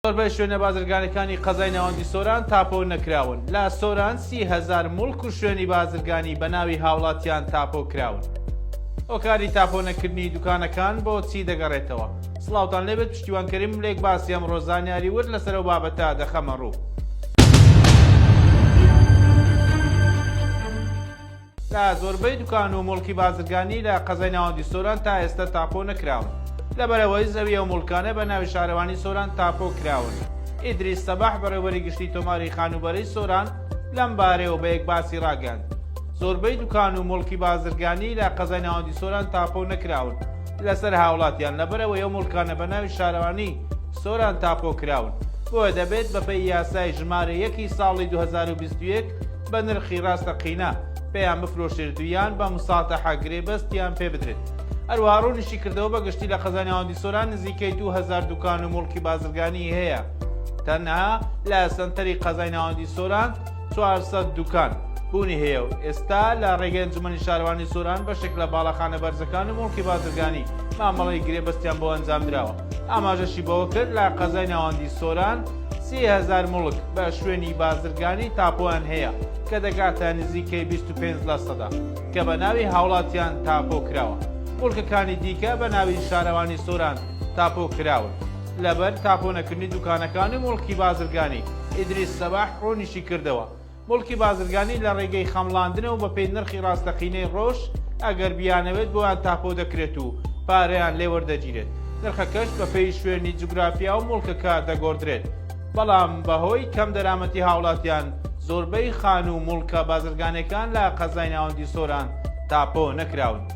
زۆربەی شوێنە بازرگانیەکانی قەزای ناوەندی سۆران تاپۆ نەکراون، لە سۆران سی هەزار موڵک و شوێنی بازرگانی بە ناوی هاوڵاتیان تاپۆ کراون. هۆکاری تاپۆ نەکردنی دوکانەکان بۆ چی دەگەڕێتەوە؟ سڵاوتان لێبێت پشتیوان کەریم ملێک باسی ئەمڕۆ زانیاری ورد لەسەر ئەو بابەتە دەخەمە ڕوو. لە زۆربەی دوکان و موڵکی بازرگانی لە قەزای ناوەندی سۆران تا ئێستە تاپۆ نەکراون، لەبەرئەوەی زەوی ئەو موڵکانە بە ناوی شارەوانی سۆران تاپۆ کراون. ئیدریس سەباح بەڕێوبەری گشتی تۆماری خانووبەرەی سۆران لەم بارەیەوە بە یەکباسی ڕاگەیاند، زۆربەی دوکان و موڵکی بازرگانی لە قەزای ناوەندی سۆران تاپۆ نەکراون لەسەر هاوڵاتیان، لەبەرئەوەی ئەو موڵکانە بە ناوی شارەوانی سۆران تاپۆ کراون، بۆیە دەبێت بەپێی یاسای ژمارە یەک ی ساڵی دوو هەزار و بیست و یەک، بە نرخی راستەقینە پێیان بفرۆشرێت و یان بە مساتەحە گرێبەستیان پێ بدرێت. هەروەها روونیشی کردەوە بە گشتی لە قەزای ناوەندی سۆران نزیکەی دوو هەزار دوکان و موڵکی بازرگانی هەیە تەنها لە سەنتەری قەزای ناوەندی سۆران 400 دوکان بوونی هەیە و ئێستا لە ڕێگەی ئەنجومەنی شارەوانی سۆران بەشێک لە باڵەخانە بەرزەکان و موڵکی بازرگانی مامەڵەی گرێبەستیان بۆ ئەنجام دراوە. ئاماژەشی بەوەکرد، لە قەزای ناوەندی سۆران سی هەزار موڵک بە شوێنی بازرگانی تاپۆیان هەیە کە دەگاتە نزیکەی بیست و پێنج لە سەدا کە بە ناوی هاوڵاتیان تاپۆ کراوە، موڵکەکانی دیکە بە ناوی شارەوانی سۆران تاپۆ کراون لەبەر تاپۆ نەکردنی دوکانەکان و موڵکی بازرگانی. ئیدریس سەباح ڕوونیشی کردەوە، موڵکی بازرگانی لە ڕێگەی خەمڵاندنەوە بە پێی نرخی ڕاستەقینەی ڕۆژ ئەگەر بیانەوێت بۆیان تاپۆ دەکرێت و پارەیان لێ وەردەگیرێت، نرخەکەش بە پێی شوێنی جوگرافیا و موڵکەکە دەگۆڕدرێت، بەڵام بە هۆی کەم دەرامەتی هاوڵاتیان زۆربەی خانوو و موڵکە بازرگانیەکان لە قەزای ناوەندی سۆران تاپۆ نەکراون.